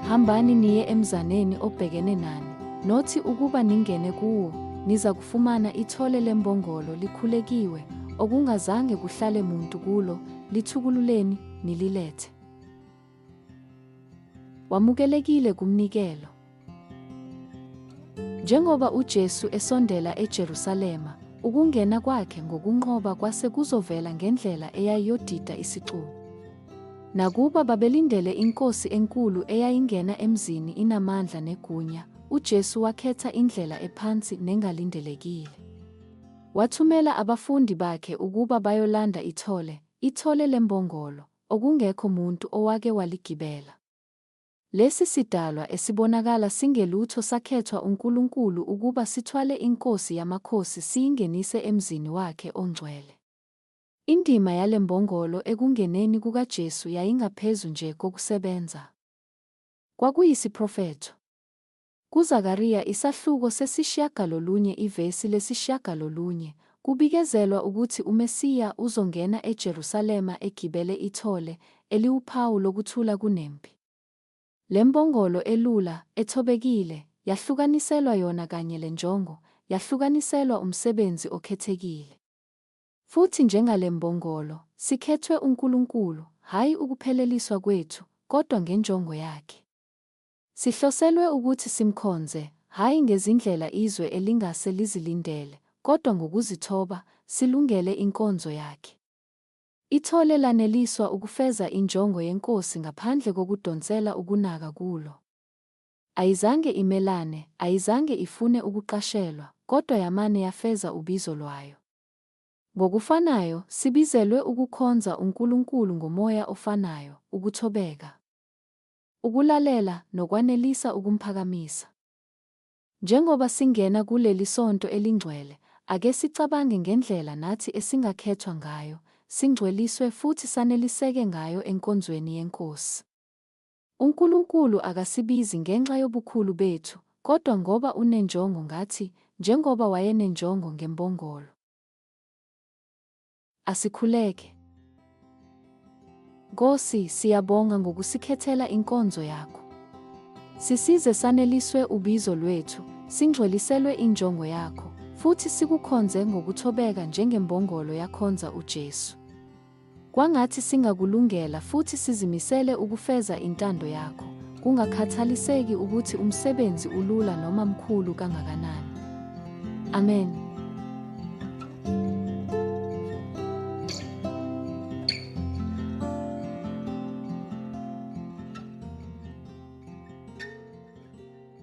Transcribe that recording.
Hambani niye emzaneni obhekene nani, nothi ukuba ningene kuwo, niza kufumana ithole lembongolo likhulekiwe, okungazange kuhlale muntu kulo, lithukululeni, nililethe. Wamukelekile kumnikelo. Njengoba uJesu esondela eJerusalema, ukungena kwakhe ngokunqoba kwase kuzovela ngendlela eyayiyodida isicubu. Nakuba babelindele inkosi enkulu eyayingena emzini inamandla negunya, uJesu wakhetha indlela ephansi nengalindelekile. Wathumela abafundi bakhe ukuba bayolanda ithole, ithole lembongolo, okungekho muntu owake waligibela. Lesi sidalwa esibonakala singelutho sakhethwa uNkulunkulu ukuba sithwale iNkosi yamakhosi siyingenise emzini wakhe ongcwele. Indima yale mbongolo ekungeneni kukaJesu yayingaphezu nje kokusebenza. Kwakuyisiprofetho. KuZakariya isahluko sesishiyagalolunye ivesi lesishiyagalolunye, kubikezelwa ukuthi uMesiya uzongena eJerusalema egibele ithole, eliwuphawu lokuthula kunempi. Le mbongolo elula, ethobekile, yahlukaniselwa yona kanye le njongo, yahlukaniselwa umsebenzi okhethekile. Futhi njengale mbongolo, sikhethwe uNkulunkulu, hhayi ukupheleliswa kwethu, kodwa ngenjongo Yakhe. Sihloselwe ukuthi simkhonze, hhayi ngezindlela izwe elingase lizilindele, kodwa ngokuzithoba, silungele inkonzo yakhe. Ithole laneliswa ukufeza injongo yeNkosi ngaphandle kokudonsela ukunaka kulo. Ayizange imelane, ayizange ifune ukuqashelwa, kodwa yamane yafeza ubizo lwayo. Ngokufanayo, sibizelwe ukukhonza uNkulunkulu ngomoya ofanayo, ukuthobeka. Ukulalela nokwanelisa ukumphakamisa. Njengoba singena kuleli sonto elingcwele, ake sicabange ngendlela nathi esingakhethwa ngayo, singcweliswe futhi saneliseke ngayo enkonzweni yeNkosi. UNkulunkulu akasibizi ngenxa yobukhulu bethu, kodwa ngoba unenjongo ngathi, njengoba wayenenjongo ngembongolo. Asikhuleke. Nkosi, siyabonga ngokusikhethela inkonzo yakho. Sisize saneliswe ubizo lwethu, singcweliselwe injongo yakho, futhi sikukhonze ngokuthobeka njengembongolo yakhonza uJesu. Kwangathi singakulungela futhi sizimisele ukufeza intando yakho. Kungakhathaliseki ukuthi umsebenzi ulula noma mkhulu kangakanani. Amen.